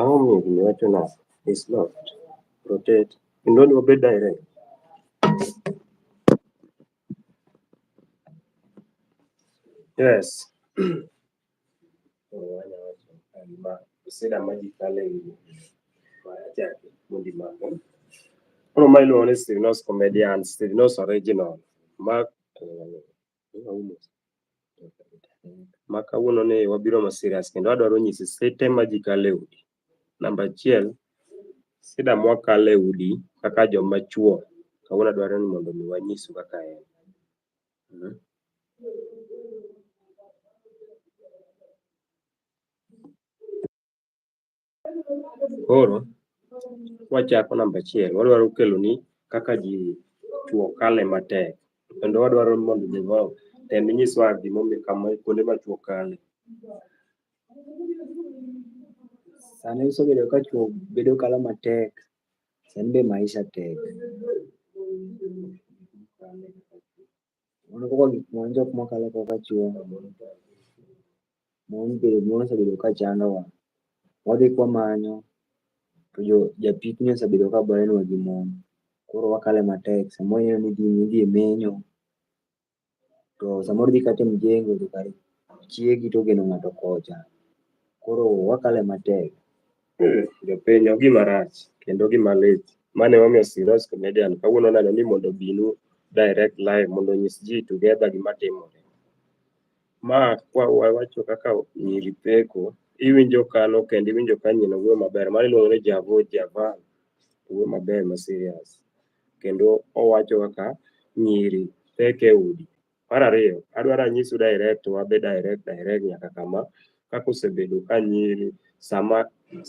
Aonge gima iwacho na is locked. Rotate. Kendo ni obed direct. Yes. Wanya wacho gima sida ma ji kale gi ma achaki mundi ma ko. Koro ma iluongo ni Stivinos Comedians, Stivinos Original. Ma ma kawuono ni wabiro ma serious kendo adwaro nyisi site ma ji kale udi. Namba achiel, sida mwakale udi kaka joma chuo. Kawuono adwaro ni mondo mi wanyisu kaka en. Koro wachako namba achiel, wadwaro kelo ni kaka ji tuo kale matek kendo wadwaro mondo jonyuol tem nyiswa gimomiyo kama kuonde ma tuo kale. Sani osebedo ka tuo bedo kale matek Sani be maisha tek. Mano kaka gik moko jok mokalo kaka chuo. Mon be mon osebedo ka chandowa. Wadhi kwamanyo to jo japikni osebedo ka bayo nwa gi mon. Koro wakale matek. Samoro ineno ni idhi e menyo, to samoro idhi kata e mjengo to kare chiegi to ogeno ng'ato kocha. Koro wakale matek. Jopiny ok gima rach kendo gima lit. Mane wamiyo Siros Comedian kawuono neno ni mondo obinu direct live mondo onyis ji together gima timore. Ma kwa wawacho kaka nyiri peko, iwinjo kano kendo iwinjo ka nyina wuoyo maber. Mano iluongo ni Javo Javan, wuoyo maber ma serious. kendo owacho kaka nyiri pek e udi. Mar ariyo, adwaro anyisu direct, wabe direct direct nyaka kama, kaka osebedo ka nyiri sama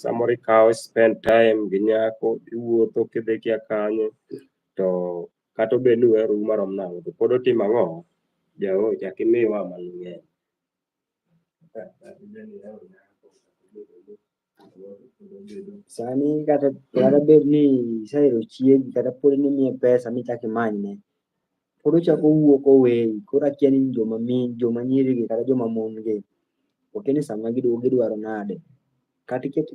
samoro ikawo spend time gi nyako, iwuotho kidhi kia kanye, to kata obed ni uheru marom nang'o, to pod otimo ang'o? Jaoyo, chak imiwa mang'eny. Sani kata kata bed ni isehero chiegi kata pod ni imiye pesa michak imanyne, pod ochak owuok oweyi. Koro akia ni joma mi joma nyiri gi kata joma mon gi, okia ni sama giduogo gidwaro nade. Kati ket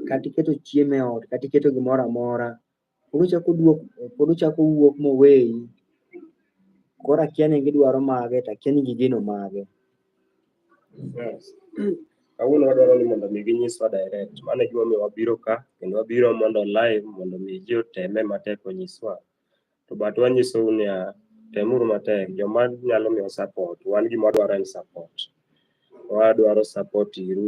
kati keto chiemo e ot, kati keto gimoramora pod ochako duok pod ochako wuok moweyi koro akia ni gidwaro mage to akia ni gigeno mage kawuono wadwaro ni mondo mi ginyiswa direct mano e gimomiyo wabiro ka kendo wabiro mondo live mondo mi ji oteme matek onyiswa to but wanyisou niya temuru matek joma nyalo miyo support wan gima wadwaro en support wadwaro support iru